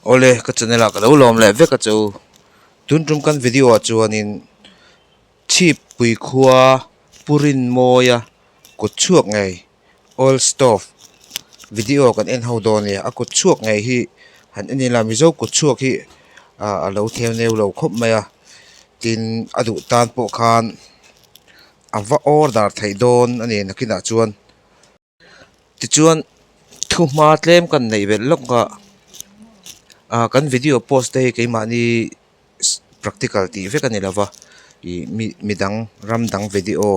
Awle ka channel ah ka lo lawm leh vek a chu tun tum kan video ah chuanin chhip pui khua purin mawia kut chhuak ngei oil stop video kan en ho dawn a nia a kut chhuak ngei hi han en ila mizo kut chhuak hi ahh a lo theneu lo khawp mai a tin a duh tan pawh khan-- A va order theih dawn a ni nakinah chuan tichuan thu hma tlem kan neih velh lawk a ahh kan video post te hi keimahni practical tih vek a ni lo va ih mi midang ram dang video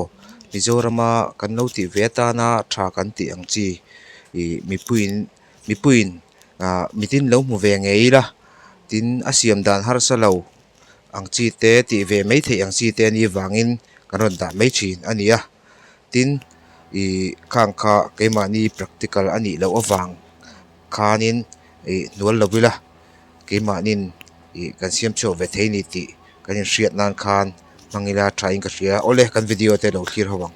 Mizoram a kan lo tih ve atan a tha kan tih ang chi ih mipuiin mipuiin ahh mitin lo hmu ve ngei ila tin a siam dan harsa lo. ang chi te tih ve mai theih ang chi te a ni vangin kan rawn dah mai thin a ni a tin ih khang kha keimahni practical a nih loh avang khanin ih hnual lo ila keimahnin ih kan siam chhuah ve thei ni tih kan inhriat nan khan hmang ila thain ka hria awle kan video te lo thlir ho ang.